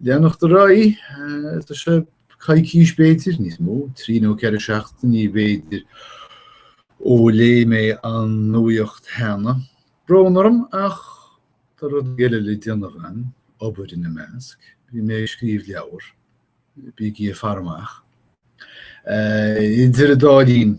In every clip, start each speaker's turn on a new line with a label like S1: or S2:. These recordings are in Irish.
S1: leanacht ar aghaidh. Tá sé coicís b'fhéidir, níos mó, trí nó ceithre seachtainí b'fhéidir ó léigh mé an nuacht cheana. Brón orm ach tá rudaí eile le déanamh agam, obair ina measc. Bhí mé ag scríobh leabhar, bígí ag faire amach. Idir an dá linn,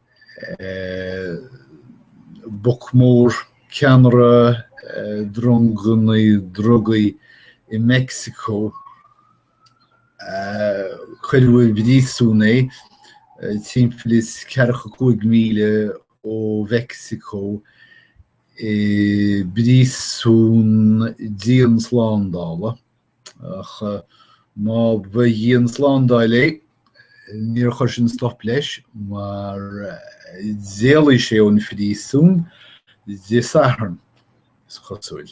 S1: boc mór, ceannaire dronganna drugaí i Meicsiceo, cuireadh i bpríosún é timpeall is ceathracha a cúig míle ó Mheicsiceo i bpríosún dianslándála. Ach má ba dhianslándáil é, níor chuir sin stop leis mar d'éalaigh sé ón phríosún Dé Sathairn, is cosúil.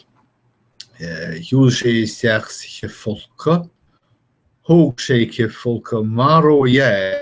S1: Shiúil sé isteach sa chithfholcadh. Thóg sé cithfholcadh mar dhea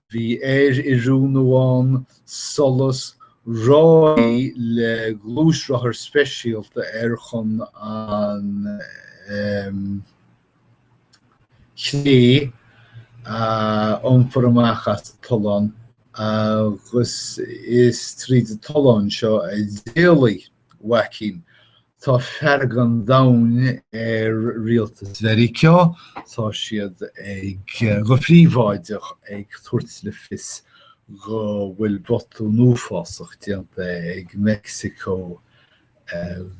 S1: Bhí aeroiriúnú ann soilse ráillí le gluaisrothar speisialta air chun an chré a iompar amach as an tollán agus is tríd an tollán seo a d'éalaigh Joaquín, Tá fearg an domhain ar Rialtas Mheiriceá. Tá siad ag, go príobháideach, ag tabhairt le fios go bhfuil botún uafásach déanta ag Meicsiceo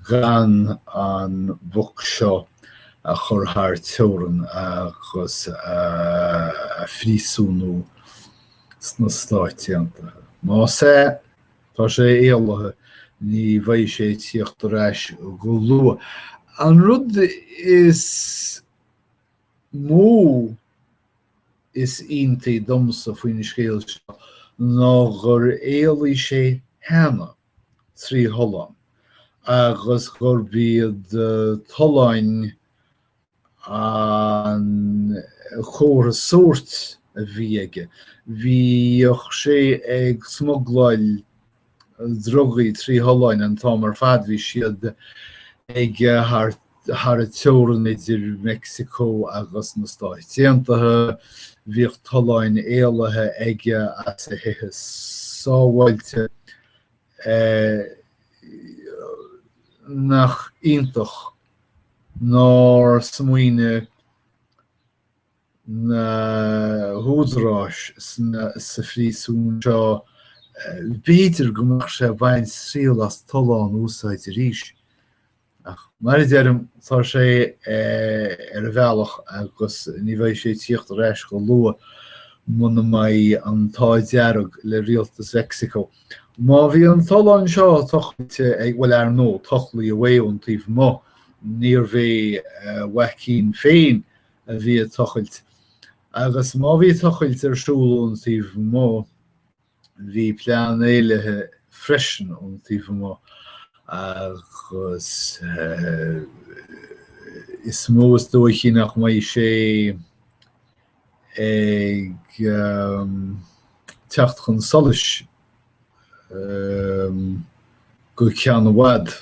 S1: gan an boc seo a chur thar teorainn agus a phríosúnú sna Stáit Aontaithe. Má, Tá sé éalaithe. Ní bheidh sé ag tíocht ar ais go luath. An rud is mó is iontaí domsa faoin scéal seo ná gur éalaigh sé cheana, trí thollán, agus gurb iad tolláin an comhartha sóirt a bhí aige. Bhíodh sé ag smugláil drugaí trí tholláin an t-am ar fad. Bhí siad aige thar an teorann idir Meicsiceo agus na Stáit Aontaithe. Bhíodh tolláin éalaithe aige as a thithe sábháilte. Nach iontach. nár smaoinigh na húdaráis sa phríosún seo, b'fhéidir go mbeadh sé ag baint triail as tollán a úsáid arís. Ach mar a deirim, tá sé ar a bhealach agus ní bheidh sé ag tíocht ar ais go luath muna mbeidh an t-ádh dearg le rialtas Mheicsiceo. Má bhí an tollán seo tochailte ag, bhuel, ar ndóigh, tochlaíodh é ón taobh amuigh, níorbh é Joaquin féin a bhí ag tochailt, agus má bhí tochailt ar siúl ón taobh amuigh, bhí plean éalaithe freisin ón taobh amuigh agus is mó is dóichí nach mbeidh sé. ag teacht chun solais go ceann i bhfad.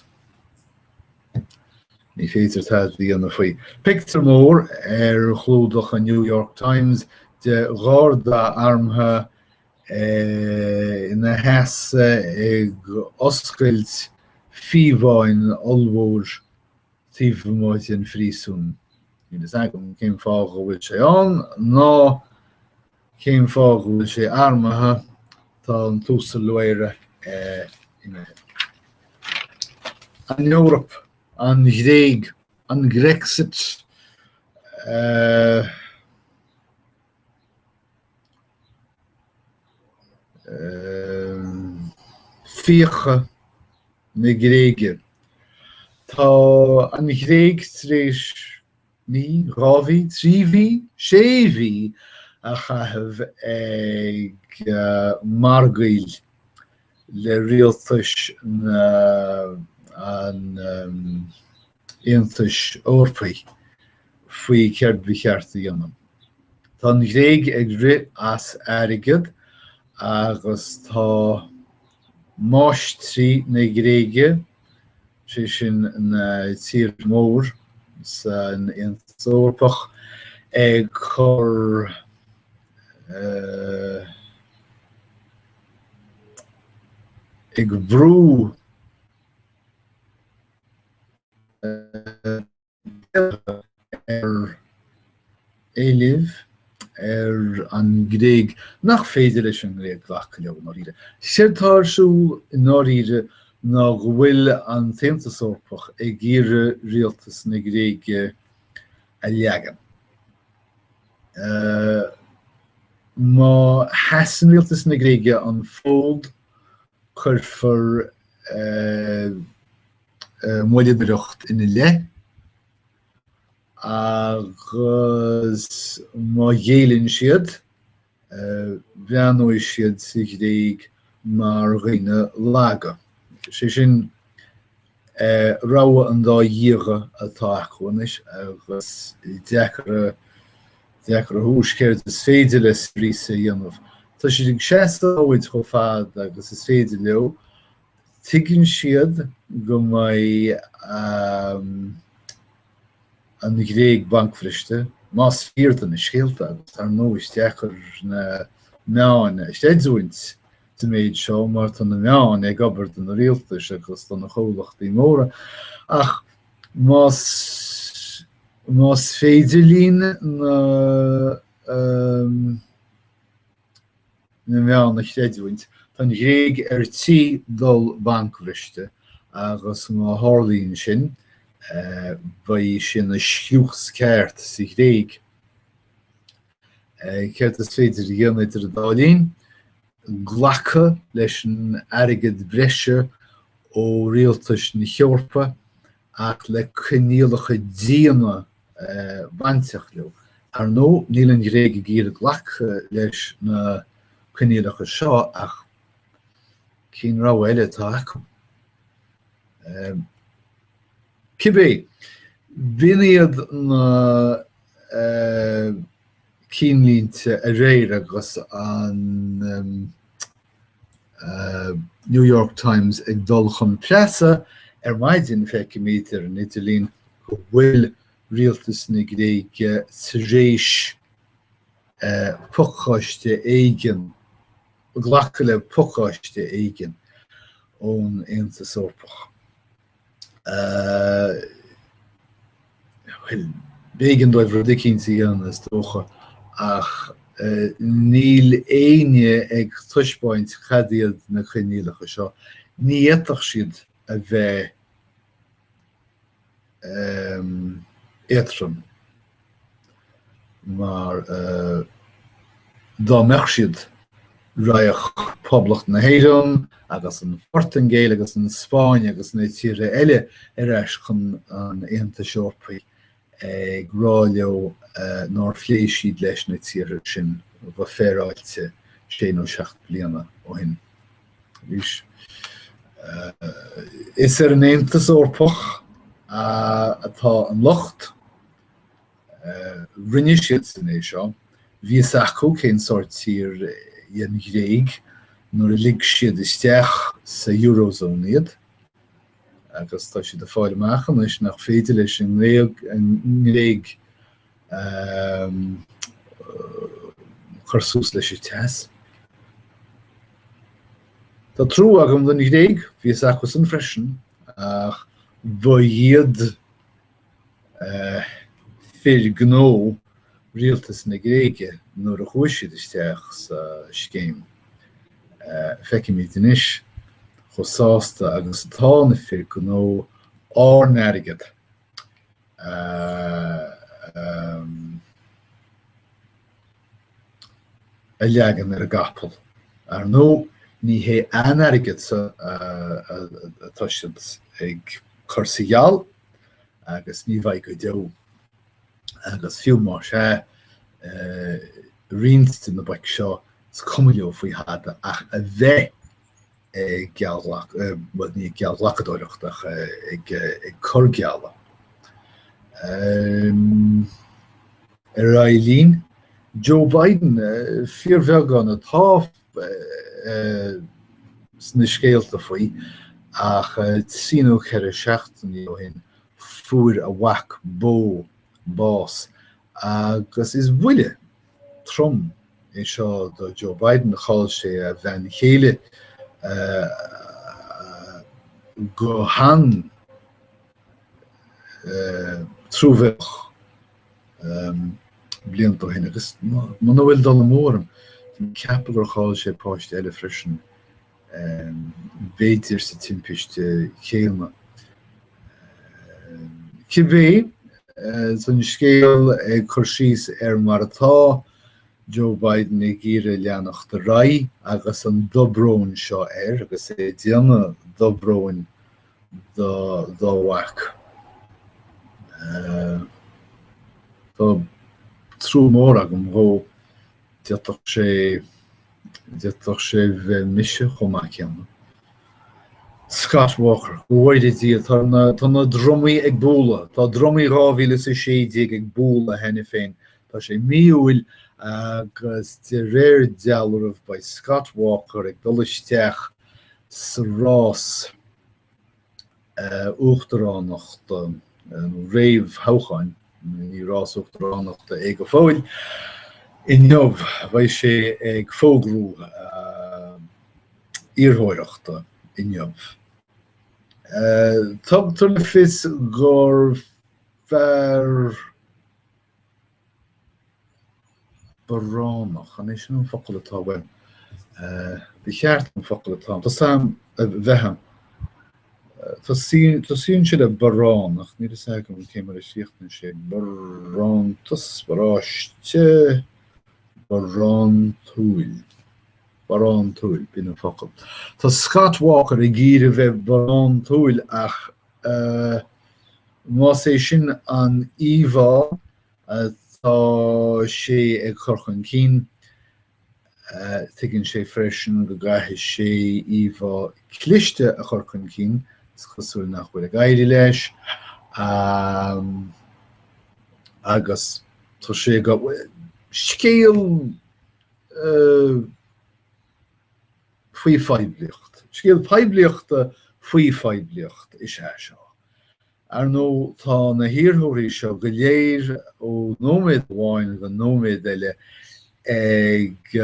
S1: Ní féidir tada a dhéanamh faoi. Pictiúr mór ar chlúdach an New York Times de Gharda armtha ina sheasamh ag oscailt fiabháin ollmhóir taobh amuigh den phríosún. Níl fhios agam cén fáth go bhfuil sé ann ná cén fáth go bhfuil sé armtha, tá an tUasal Loera imithe. An Eoraip, an Ghréig, an Grexit, fiacha na Gréige. Tá an Ghréig tar éis mí, dhá mhí, trí mhí, sé mhí a chaitheamh ag margaíl le rialtais an Aontais Eorpaigh faoi céard ba cheart a dhéanamh. Tá an Ghréig ag rith as airgead agus tá máistrí na Gréige, sé sin na tíortha mór san Aontas Eorpach, ag cur ag brú, ar éilimh ar an nGréig nach féidir leis an nGréig glacadh leo i ndáiríre. Séard atá ar siúl i ndáiríre ná go bhfuil an tAontas Eorpach ag iarraidh rialtas na Gréige a leagan. Má sheasann rialtas na Gréige an fód cuirfear moilleadóireacht ina leith agus má ghéilleann siad, breathnóidh siad sa Ghréig mar dhaoine laga. Sé sin, rogha an dá dhíogha atá acu anois agus is deacair a thomhas céard is féidir le Syriza a dhéanamh. Tá siad ag seasamh an fhóid chomh fada agus is féidir leo. Tuigeann siad go mbeidh. an Ghréig bancbhriste, más fíor do na scéalta, agus dar ndóigh is deacair na meáin a chreidiúint sa mhéid seo mar tá na meáin ag obair do na rialtais agus do na comhlachtaí móra, ach más más féidir linn na. na meáin a chreidiúint, tá an Ghréig ar tí dul bancbhriste agus má tharlaíonn sin, beidh sí ina scrios ceart sa Ghréig. Céard is féidir a dhéanamh idir an dá linn? Glacadh leis an airgead breise ó rialtais na hEorpa ach le coinníollacha diana a bhainfeadh leo. Ar ndóigh, níl an Ghréig ag iarraidh glacadh leis na coinníollacha seo ach cén rogha eile atá acu? Cibé, b'in iad na cinnlínte aréir agus an. New York Times ag dul chun preasa ar maidin feicimid ar an idirlín go bhfuil rialtas na Gréige tar éis eh, pacáiste éigin glacadh le pacáiste éigin ón Aontas Eorpach. bhuel, b'éigean dóibh rud eicínt a dhéanamh is dócha ach níl éinne ag taispeáint cad iad na coinníollacha seo. Ní fhéadfadh siad a bheith éadtrom. mar dá mbeadh siad raghadh Poblacht na hÉireann agus an Phortaingéil agus an Spáinn agus na tíortha eile ar ais chun an Aontais Eorpaigh ag rá leo nár phléigh siad leis na tíortha sin go féaráilte sé nó seacht bliana ó shin. Is ar an Aontas Eorpach atá an locht. Rinne siadsan é seo. Bhí fhios acu cén sórt tír í an Ghréig nuair a lig siad isteach sa Eurozone iad agus tá siad ag fáil amach anois nach féidir leis an nGréig cur suas leis an teas. Tá trú agam don Ghréig, bhí fhios acusan freisin ach ba iad fir gnó rialtas na Gréige nuair a chuaigh siad isteach sa scéim. Feicimid anois chomh sásta agus atá na fir gnó ár n-airgead a a leagan ar an gcapall. Ar ndóigh, ní hé a n-airgeadsan atá siad ag cur sa gheall agus ní bheidh go deo agus fiú más ea roinnt de na boic seo is cuma leo faoi thada ach a bheith ag geallghlacadóireacht ach ag cur geallta. Ar aghaidh linn, Joe Biden fíorbheagán atá sna scéalta faoi ach trí nó ceithre seachtainí ó shin fuair a mhac Beau bás agus is buille trom é seo do Joe Biden, chaill sé a bhean chéile go han-truamhéalach blianta ó shin agus muna bhfuil dul amú orm, ceapaim gur chaill sé páiste eile freisin b'fhéidir sa timpiste chéanna. Cibé, sa scéal ag cur síos ar mar atá, Joe Biden ag iarraidh leanacht ar aghaidh agus an dobrón seo air agus é ag déanamh dobróin dá mhac. Tá trú mór agam dhó d'fhéadfadh sé d'fhéadfadh sé bheith mise chomh maith céanna. Scott Walker, Go bhfóire Dia, tá na, tá na drumaí ag bualadh, tá drumaí 2016 ag bualadh cheana féin, tá sé mí Iúil agus de réir dealraimh beidh Scott Walker ag dul isteach sa rás. uachtaránachta réamhthoghcháin, ní rás uachtaránachta é go fóill. Inniu beidh sé ag fógrú a iarrthóireachta inniu. Tugtar le fios gur fear. baránach. An é sin an focal atá, bhuel, ba cheart an focal atá, tá uaim, a bheith ann. Tosaíonn sé le baránach, níl a fhios agam cé mar a chríochnaíonn sé, barántas, barraiste, barántúil, barántúil, b'in an focal. Tá Scott Walker ag iarraidh a bheith barántúil ach Más é sin an íomhá atá sé ag cur chun cinn, tuigeann sé freisin go gcaithfidh sé íomhá cliste a chur chun cinn, is cosúil nach bhfuil ag éirí leis, agus tá sé, scéal faoi phoiblíocht. Scéal poiblíochta faoi phoiblíocht is ea seo. Ar ndóigh, tá na hiarrthóirí seo go léir ó nóiméad amháin go nóiméad eile ag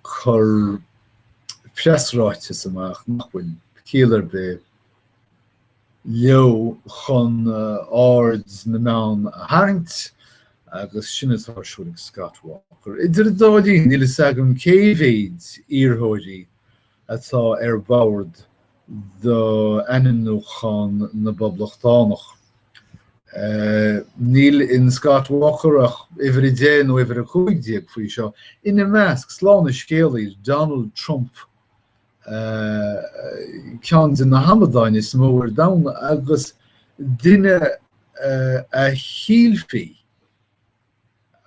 S1: cur preasráiteas amach nach bhfuil ciall ar bith, leo chun aird na meán a tharraingt agus sin atá ar siúl ag Scott Walker. Idir an dá linn, níl a fhios agam cé mhéid iarrthóirí atá ar bord d'ainmniúchán na bPoblachtánach. Níl in Scott Walker ach uimhir 10 nó uimhir 15 faoi seo, ina measc, slán an scéalaí, Donald Trump, ceann de na hamadáin is mó ar domhan agus duine a shílfí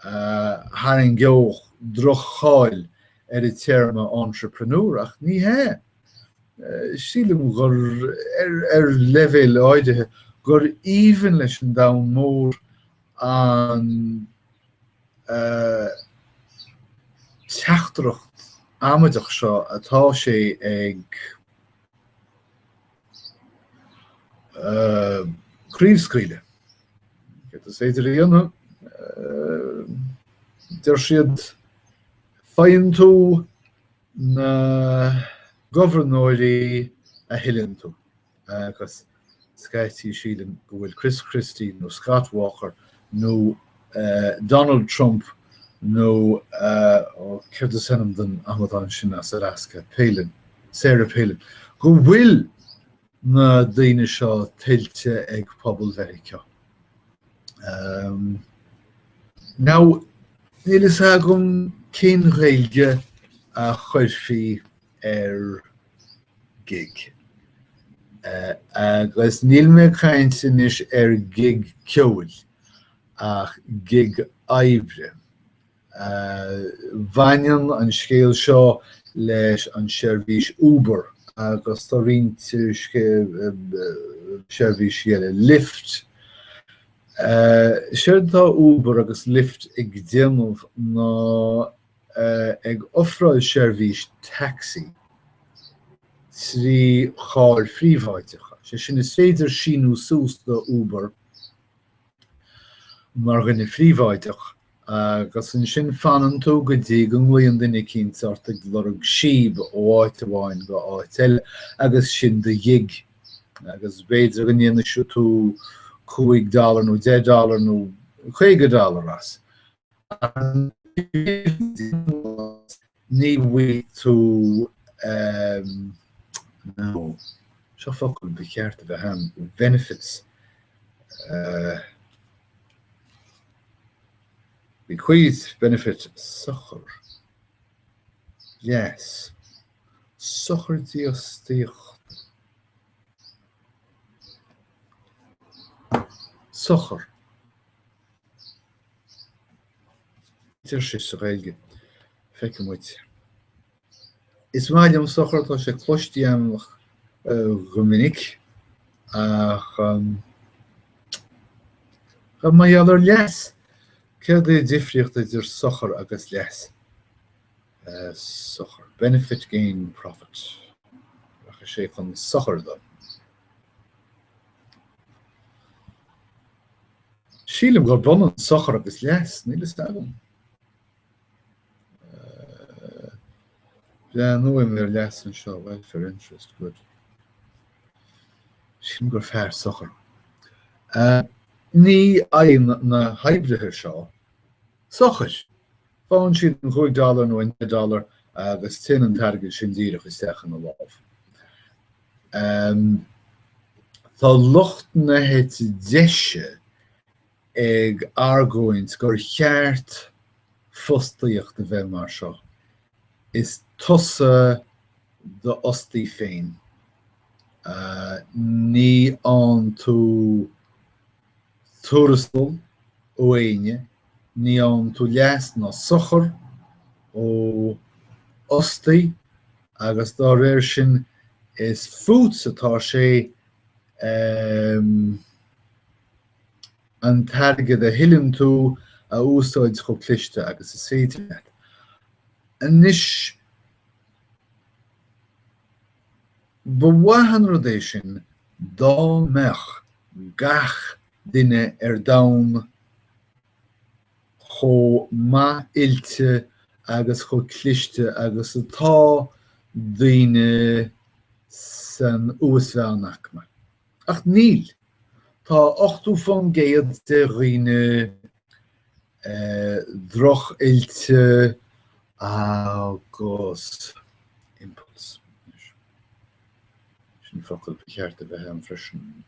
S1: a tharraingeodh droch-cháil ar an téarma entrepreneur, ach ní hea. Sílim gur, ar leibhéal áirithe, gur aoibhinn leis an domhan mór an teachtaireacht amaideach seo atá sé ag craobhscaoileadh. Céard is féidir a dhéanamh? Deir siad, Faigheann tú na gobharnóirí a thuilleann tú. agus scaití sílim go bhfuil Chris Christie nó Scott Walker nó Donald Trump nó ó céard is ainm don amadán sin as Alaska, Palin, Sarah Palin, go bhfuil na daoine seo tuillte ag pobal Mheiriceá. Now, níl a fhios agam cén Ghaeilge a chuirfí ar gig. Agus níl mé ag caint anois ar ghig ceoil, ach gig oibre. Baineann an scéal seo leis an seirbhís Uber agus tá roinnt seirbhísí eile, Lyft. Séard atá Uber agus Lyft ag déanamh ná ag ofráil seirbhís taxi trí charr phríobháideacha. Sé sin, is féidir síniú suas do Uber mar dhuine phríobháideach agus ansin fanann tú go dtí go nglaonn duine eicínt ort ag lorg síob ó áit amháin go áit eile agus sin do ghig agus b'fhéidir go ndéanfaidh tú cúig dollar nó deich dollar nó caoga dollar as. Ní bhfuair tú nó, seo focal ba cheart a bheith agam, benefits bequeath, benefit sochar, yes, sochar dífhostaíocht, sochar. deir sé sa Ghaeilge, feicfidh muid. Is maith liom sochar, tá sé cloiste agam go minic ach Tá mé idir leas, céard é an difríocht idir sochar agus leas? sochar, benefit, gain, profit, ach is é chun sochair dó. Sílim gurb ionann sochar agus leas, níl fhios agam. Breathnóidh mé ar leas anseo, welfare interest, good. Sílim gur fearr sochar. Ní fhaigheann na hoibrithe seo sochair. Faigheann siad an cúig dollar nó an deich dollar agus téann an t-airgead sin díreach isteach ina lámh. Tá lucht na heite deise ag argóint gur cheart fostaíocht a bheith mar seo, is tusa d'fhostaí féin, ní fhaigheann tú tuarastal ó éinne, ní fhaigheann tú leas ná sochar ó fhostaí agus dá réir sin is fútsa atá sé an t-airgead a thuilleann tú a úsáid chomh cliste agus is féidir leat. Anois. Ba mhaith an rud é sin dá mbeadh gach duine ar domhan chomh maith-oilte agus chomh cliste agus atá daoine san uas-mheánaicme. Ach níl. Tá ochtó fán gcéad de dhaoine droch-oilte agus impulse. Sin an focal ba cheart a bheith ann freisin.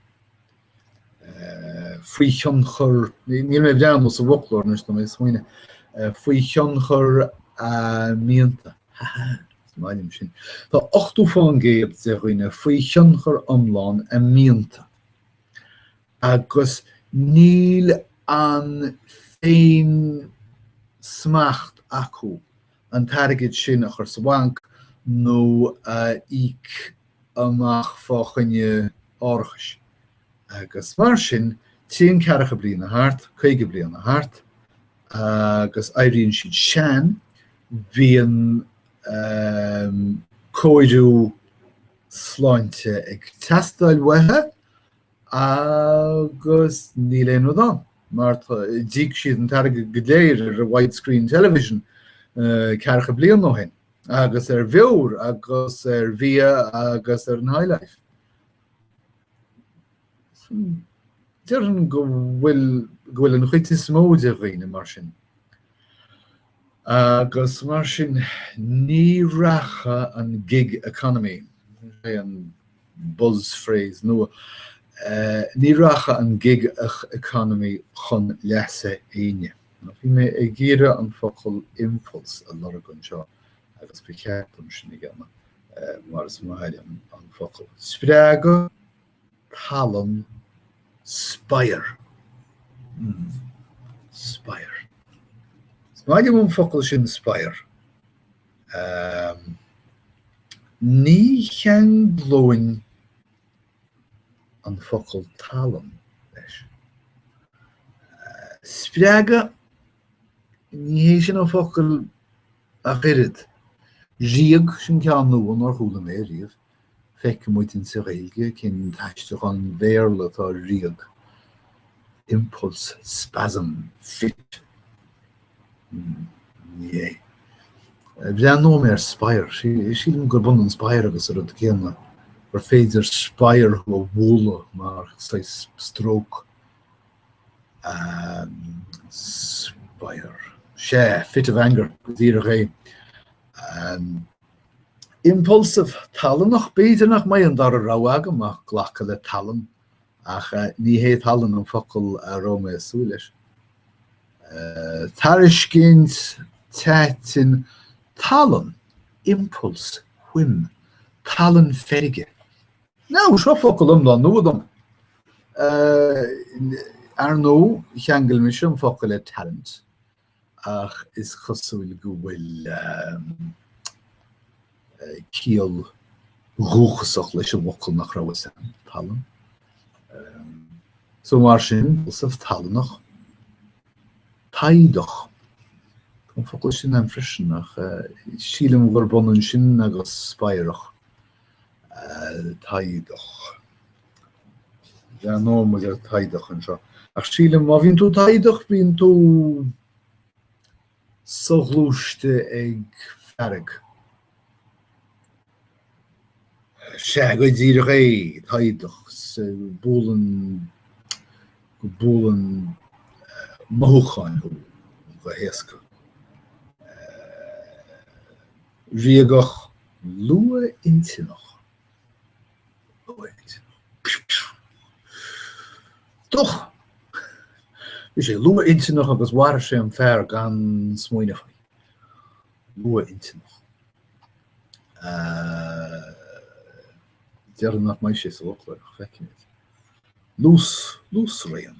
S1: faoi thionchar, níl mé ag breathnú sa bhfoclóir anois níl mé ach ag smaoineamh, faoi thionchar a mianta. Is maith liom sin. Tá 80% de dhaoine faoi thionchar iomlán a mianta. agus níl an féinsmacht acu an t-airgead sin a chur sa bhanc nó a íoc amach fá choinne árachais agus mar sin téann ceathracha bliain ag thart, caoga bliain ag thart agus éiríonn siad sean, bíonn cóiriú sláinte ag teastáil uathu agus níl aon rud ann mar tá d'íoc siad an t-airgead go léir ar widescreen television ceathracha bliain ó shin agus ar bheoir agus ar bhia agus ar an high life. Déarfainn go bhfuil, go bhfuil an chuid is mó de dhaoine mar sin. agus mar sin ní rachadh an gig economy, sin é an buzz phrase nua, ní rachadh an gig economy chun leasa éinne. Bhí mé ag iarraidh an focal impulse a lorg anseo agus ba cheart dom sin a dhéanamh mar is maith liom an focal. Spreagadh? tallann spadhar. mm. Spadhar. Is maith liom an focal sin spadhar. Ehm. Ní cheanglóinn an focal tallann leis. Spreagadh, ní hé sin an focal ach oiread. Ríog, sin ceann nua nár chuala mé riamh. Feicfidh muid in Sa Ghaeilge cén t-aistriúchán Bhéarla atá ar ríog, impulse, spasm, fit. Mh. Breathnóimid ar spadhar. Sílim gurb ionann spadhar agus an rud céanna, gur féidir spadhar thú a bhualadh mar saghas stróc. Spadhar. Sea, fit of anger go díreach é. Impulsive, tallannach, b'fhéidir nach mbeidh an dara rogha agam ach glacadh le tallann, ach ní hé tallann an focal a raibh mé ag súil leis. Tairiscint, taitin, tallann, impulse, whim, tallann feirge. Now, seo focal iomlán nua dom. Ar ndóigh, cheangail mise an focal le talent, ach is cosúil go bhfuil ciall dhúchasach leis an bhfocal nach raibh fhios a'm, tallann. So mar sin, Seosamh, tallannach, taghdach. Tá an focal sin a'm freisin ach sílim gurb ionann sin agus spadhrach. taghdach. Breathnóidh muid ar taghdach anseo. Ach sílim má bhíonn tú taghdach bíonn tú soghluaiste ag fearg. Sea, go díreach é, taghdach, buaileann go mbuaileann mothúcháin thú go héasca. Ríogach, luathintinneach Bhí sé luathintinneach agus mharaigh sé an fear gan smaoineamh faoi. Luathintinneach. Déarfainn nach mbeidh sé sa bhfoclóir ach feicfimid. Luas, luasraon,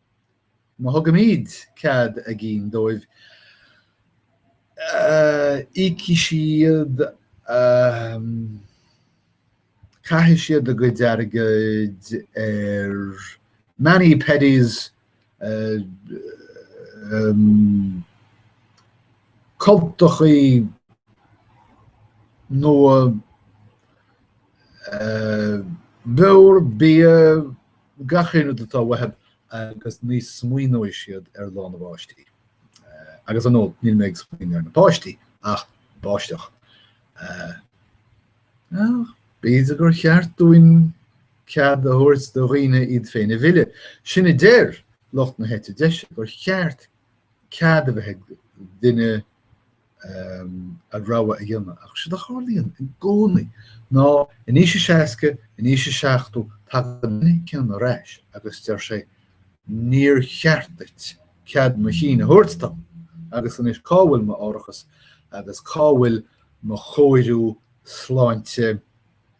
S1: Má thugaimid cead a gcinn dóibh, ídeoidh siad, caithfidh siad a gcuid airgid ar mani pedis, cultacha nua, beoir, bia. gach aon rud atá uathu agus ní smaoineoidh siad ar lá na báistí. Agus ar ndóigh, níl mé ag smaoineamh ar na páistí ach báisteach. Ach b'fhéidir gur cheart dúinn cead a thabhairt do dhaoine iad féin a mhilleadh. Sin a deir lucht na heite deise, gur cheart cead a bheith ag duine a rogha a dhéanamh ach séard a tharlaíonn i gcónaí ná in aois a 60, in aois a 70 tagann an duine céanna ar ais agus deir sé 'níor cheart duit cead mo chinn a thabhairt dom agus anois cá bhfuil m'árachas agus cá bhfuil mo chóiriú sláinte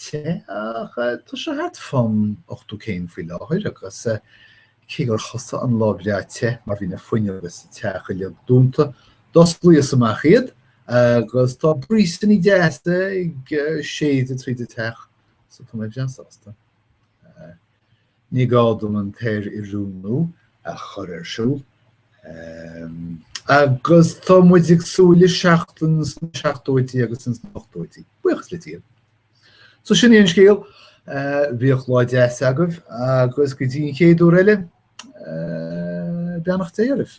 S1: te, ach tá sé thart fán ochtó céim faoi láthair agus cé gur thosaigh an lá breá te mar bhí na fuinneoga sa teach uilig dúnta, d'osclaíos amach iad agus tá bríosanna deasa ag séideadh tríd an teach so tá mé breá sásta. Ní gá dom an t-aer-oiriúnú a chur ar siúl agus tá muid ag súil le seachtain sna seachtóidí agus ins na hochtóidí. Buíochas le Dia. So sin í an scéal. Bíodh lá deas agaibh agus go dtí an chéad uair eile, beannacht Dé oraibh.